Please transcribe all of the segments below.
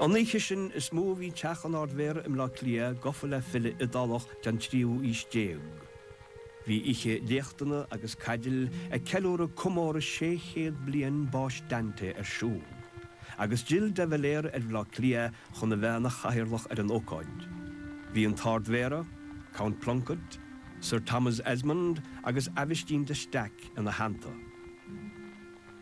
An oíche sin is ámh a bhí teach an Ardmhéara i mBleá Cliath gafa le file Iodálach den tríú aois déag. Bhí oíche léachtanna agus ceoil ag ceiliúradh comóradh sé chéad bliain báis Dante ar siúl, agus d'fhill de Valera ar Bhleá Cliath chun a bheith ina chathaoirleach ar an ócáid. Bhí an tArdmhéara, Count Plunkett, Sir Thomas Esmonde agus Aibhistín de Staic ina theannta.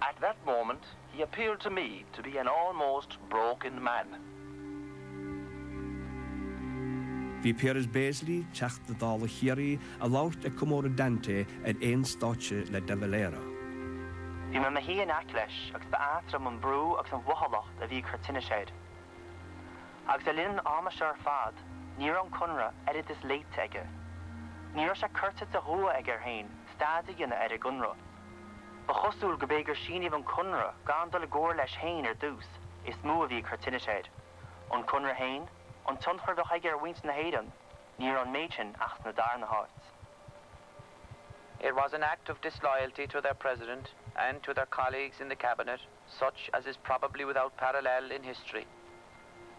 At that moment he appeared to me to be an almost broken man. Bhí Piaras Béaslaí, Teachta Dála Chiarraí, ag labhairt ag comóradh Dante ar aon stáitse le De Valera. Bhí mé 'mo shuí in aice leis agus ba ait liom an brú agus an mhothálacht a bhí ag cur tinnis air. Agus le linn an ama seo ar fad ní raibh an Conradh oiread is léite aige. Ní raibh sé curtha de dhua aige air féin staidéar a dhéanamh ar an gConradh. Ba chosúil gurb é gur síníodh an conradh gan dul i gcomhairle leis féin ar dtús, is mó a bhí ag cur tinnis air. An conradh féin, an tionchar a bheadh aige ar mhuintir na hÉireann, ní raibh an méid sin ach sa darna háit. It was an act of disloyalty to their President and to their colleagues in the Cabinet such as is probably without parallel in history.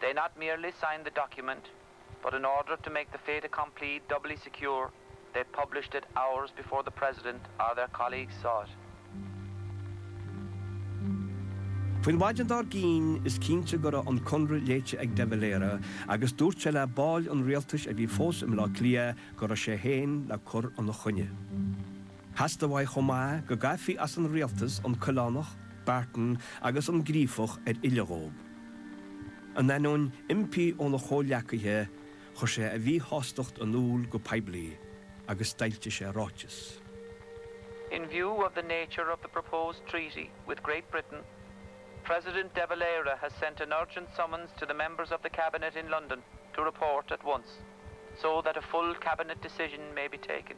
They not merely signed the document, But in order to make the fait accompli doubly secure, they published it hours before the President or their colleagues saw it. Faoin mhaidin dár gcinn, is cinnte go raibh an conradh léite ag de Valera agus dúirt sé le baill an rialtais a bhí fós i mBleá Cliath go raibh sé féin le cur ina choinne. Theastaigh uaidh chomh maith go gcaithfí as an rialtas an Coileánach, Barton agus an Gríofach ar fhilleadh dhóib. In ainneoin impí óna chomhleacaithe, chuir sé a mhíshástacht in iúl go poiblí agus d'fhoilsigh sé ráiteas. In view of the nature of the proposed treaty with Great Britain, President de Valera has sent an urgent summons to the members of the Cabinet in London to report at once, so that a full Cabinet decision may be taken.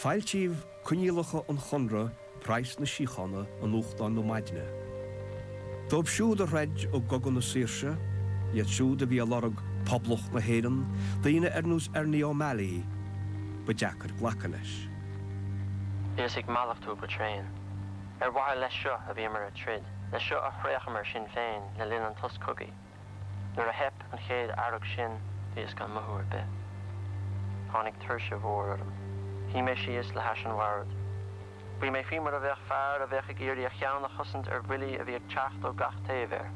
Foilsíodh coinníollacha an chonartha, praghas na síochána, i nuachtáin na maidne. Dóibh siúd a throid i gcogadh na saoirse, iad siúd a bhí ag lorg Poblacht na hÉireann, daoine ar nós Ernie O'Malley, ba deacair glacadh leis. Bhíos ag mallachtú go tréan. Ar mhaithe leis seo a bhíomar ag troid, leis seo a thraochamar sinn féin le linn an tsos cogaidh. Nuair a thit an chéad fhearg sin, bhíos gan mothú ar bith. Tháinig tuirse mhór orm. Shuigh mé síos le hais an bhoird. Shuigh mé faoi mar a bheadh fear a bheadh ag iarraidh a cheann a chosaint ar bhuillí a bhí ag teacht ó gach taobh air.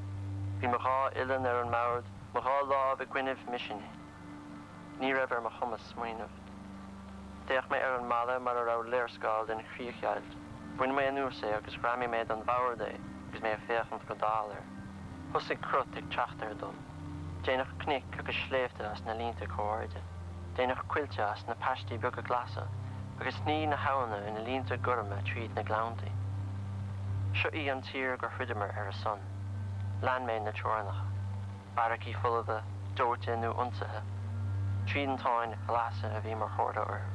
Bhí mo dhá uillinn ar an mbord, mo dhá lámh i gcoinnibh m'uisinní. Ní raibh ar mo chumas smaoineamh. D'fhéach mé ar an mballa mar a raibh léarscáil den chríochdheighilt. Bhain mé anuas é agus ghreamaigh mé den bhord é agus mé ag féachaint go dall air. Thosaigh crot ag teacht air dom. Déanadh cnoic agus sléibhte as na línte comh-airde. Déanadh coillte as na paistí beaga glasa agus shní na habhanna ina línte gorma tríd na gleannta. Seo í an tír gur throideamar ar a son. Lean mé na teorainneacha. Beairicí folmha, dóite nó ionsaithe, triantáin ghlasa a bhí mar chomhartha orthu.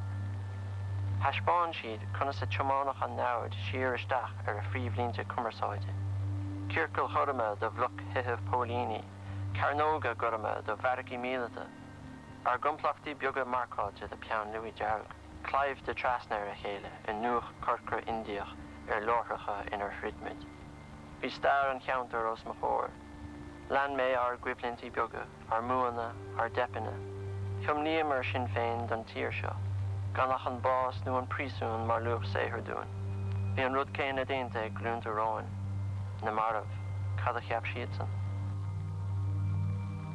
Thaispeáin siad conas a tiomáineadh an namhaid siar isteach ar a phríomhlínte cumarsáide, ciorcail ghorma de bhlocthithe póilíní, cearnóga gorma de bheairicí míleata, ár gcomplachtaí beaga marcáilte le peann luaí dearg, claimhte trasna ar a chéile i ndúch corcra Indiach ar láithreacha inar throid muid. Bhí stair an cheantair os mo chomhair. Lean mé ár gcoimhlintí beaga, ár mbuanna, ár dteipeanna. Thiomnaíomar sinn féin don tír seo, gan ach an bás nó an príosún mar luach saothair dúinn. Bhí an rud céanna déanta ag glúnta romhainn. Na mairbh, cad a cheap siadsan?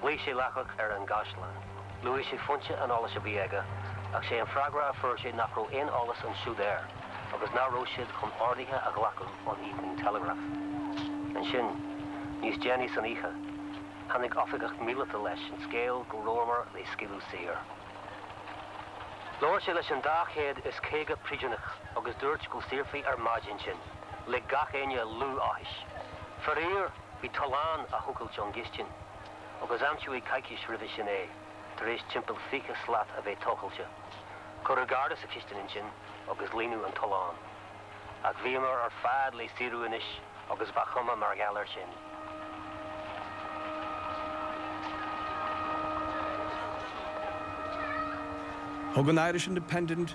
Ghlaoigh sé laithreach ar an gCaisleán. Luaigh sé foinse an eolais a bhí aige, ach sé an freagra a fuair sé nach raibh aon eolas ansiúd air, agus nach raibh siad chun orduithe a ghlacadh ón Evening Telegraph. Ansin, níos déanaí san oíche, tháinig oifigeach míleata leis an scéal go rabhamar le scaoileadh saor. Labhair sé leis an dá chéad is caoga príosúnach agus dúirt go saorfaí ar maidin sinn. Lig gach éinne liú áthais. Faraor! Bhí tollán á thochailt ón gcistin, agus aimsíodh é coicís roimhe sin é, tar éis timpeall 20 slat a bheith tochailte. Cuireadh garda sa chistin ansin agus líonadh an tollán. Ach bhíomar ar fad le saoradh anois agus ba chuma mar gheall air sin. Thug an Irish Independent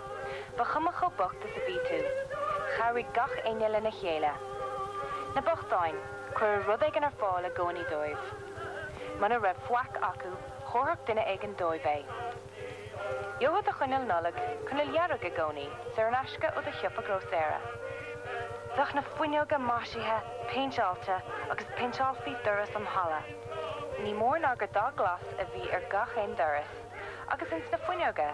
Ba chuma chomh bocht is a bhí tú, chabhraigh gach éinne lena chéile. Na bochtáin, cuireadh rud éigin ar fáil i gcónaí dóibh. Muna raibh faic acu, thabharfadh duine éigin dóibh é. Gheofá do choinneal Nollag coinneal dhearg i gcónaí, saor in aisce ó do shiopa grósaera. Bheadh na fuinneoga maisithe, péinteáilte, agus phéinteálfaí doras an halla. Ní mór ná gur dath glas a bhí ar gach aon doras, agus ins na fuinneoga.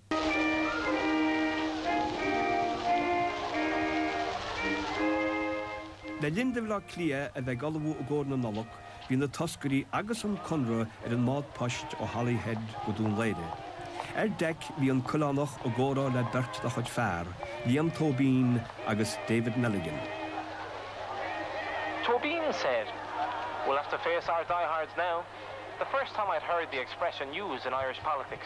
Le linn do Bhaile Átha Cliath a bheith ag ullmhú i gcomhair na Nollag, bhí na toscairí agus an Conradh ar an mbád poist ó Holyhead go Dún Laoghaire. Ar deic bhí an Coileánach i gcomhrá le beirt dá chuid fear, Liam Tóibín agus David Milligan. Tóibín said, We'll have to face our diehards now. The first time I'd heard the expression used in Irish politics.